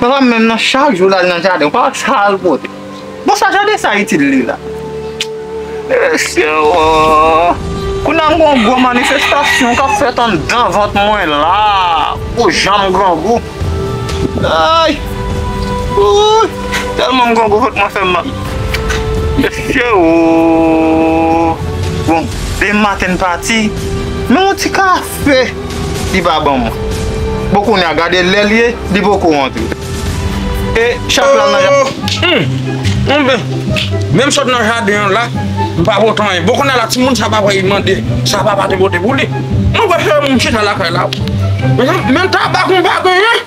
Papam menm nan chak jou lal nan jaden ou pa wè sal pote bon sa jaden sa itil li la mesye ooh kounya m gon gwo manifestasyon kap fèt anndan vant mwen la pou janm grangou ayy ooh tèlman m grangou vant mwen fèm mal mesye ooh bon demen maten m pati men yon ti kaf Pe, li pa ban mwen. Bon kounya gade lè l ye, li poko rantre. E chat la nan jaden. Humm! Anben, menm sot nan jaden an la, m pa pot anyen. Bon kounya la timoun sa pa vle mande sa papa te pote pou li. Mwen prefere m chita lakay la. Menm tabak m pa genyen.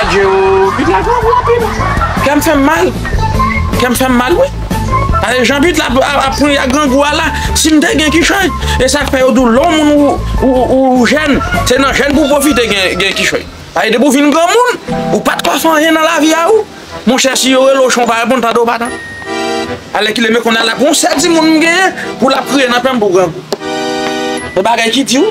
Adjee oo but la gou gou anpil kèm fèm mal kèm fèm mal wi gade jan but la ap pran ak grangou a la sim te gen kichòy esak fè yo diw lè yon moun ou jèn se nan jèn pou pwofite gen kichòy paske depi ou vin granmoun ou pat ka fè anyen nan lavi a ou monchè si yo relew chon ou pa reponn tande ou pa tande alèkile men konnya la gon sè timoun m genyen pou lap kriye nan pèm pou grangou se bagay ki di wi.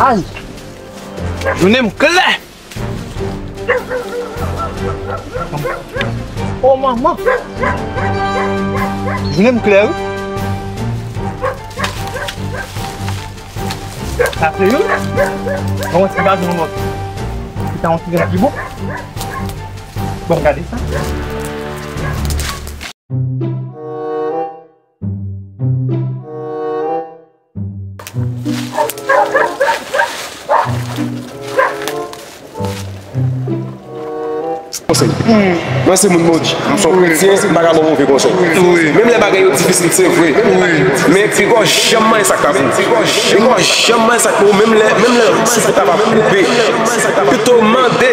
Ayy! Jounen m klè! O manman! Jounen m klè wi! Sa se youn, bon mwen se pa di yon lòt. Ki ta yon ti jan pi bon. Bon gade sa. Mwen se moun Moji, m son kretyen, m pa ka ba w move konsèy. Menm lè bagay yo difisil, se vre. Men pigaw janm manje sa k pa pou ou. Pigaw janm manje sa k pou ou menm lè souf ou ta va koupe. Pito mande.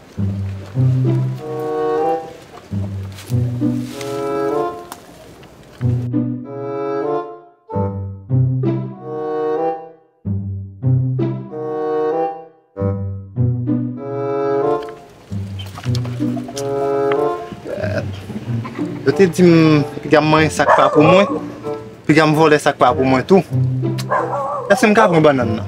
Yo te di m piga m manye sak pa pou mwen, piga m vole sak pa pou mwen tou. Eske m ka pran banann nan?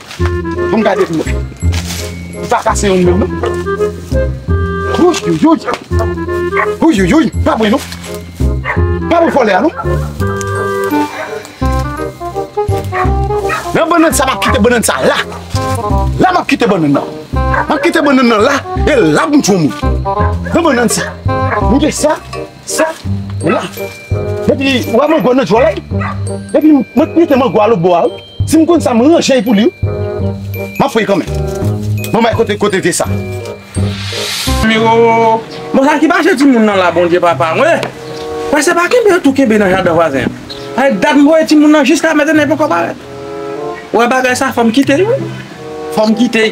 Bon gade m non. Li pa kase youn menm non. Ouiuiui. Ouiuiui. Pa bri non. Pa bri vole a non. Nan banan sa map kite banan sa la. La map kite banan nan. Map kite banan nan la. E la m tchou mou. Nan banan sa. M gen sa. Sa. La. E pi ou a man gwa nan jwalay. E pi m met mite man gwa lo bo a ou. Si m konn sa m ranje l pou li wi. M ap fouye kanmenm. Bon bay kote kote vye sa. Miro, Bon sa ki pase timoun nan la Bondye papa mwen. Mwen se pa kenbe yo tou kenbe nan jaden vwazen an. Sa fè dat m voye timoun nan jiska mètènè li poko parèt. Ou wè bagay sa fò m kite li wi. Fò m kite.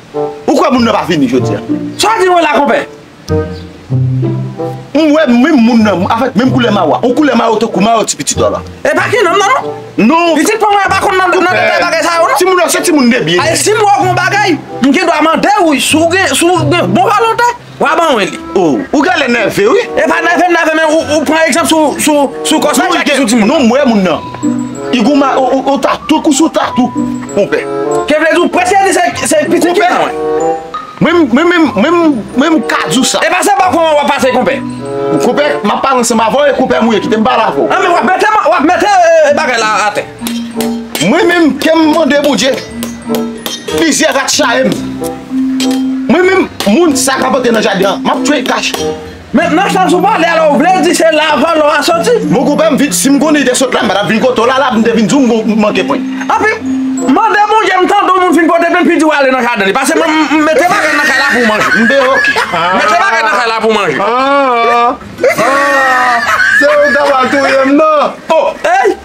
Ou kwè moun nan pa vini jodi a? Sa w ap di mwen la konpè? M wè menm moun nan avèk menm koulè mayo a. Yon koulè mayo tankou mayo ti pitit ou la. E pa gen nanm nan non. Non. Pitit pa mwen an pa konn nan detay bagay sa yo non. Timoun nan se timoun debyen. Alè si m wè w gen yon bagay, m gen dwa mande w si w gen bon volonte. Wa ban mwen li. Oh ou gèlè nève wi. E pa nève m nève men ou pran egzanp sou kòsa chak ki sou timoun nan. Non m wè moun nan. I goumen ou tatou kou sou tatou konpè. Ke vle di ou prèske di se pitit ki nan mwen. Konpè mwen m ka di w sa. E pa se bò kò an wap pase konpè. Konpè map pale ansanm avè w e konpè m ou ye kite m pale avè w. An men wap mete bagay la atè. Mwen menm kem mande bondye plizyè rat chayem Mwen menm moun sa kap antre nan jaden an map tchwel kach. Met nan sans ou pale a la ou vle di se la van lò a soti. Bon konpè m vin sim konn li te sot la m patap vin kote w la la m te vin di w m manke pwen. Anpi mande bondye m tande w moun fin pote plen pi di w ale nan jaden li pase m mete bagay nan kay la pou manje m deyo ok mete bagay nan kay la pou manje. Aah aah se ou ta pral touyem nan. Oh.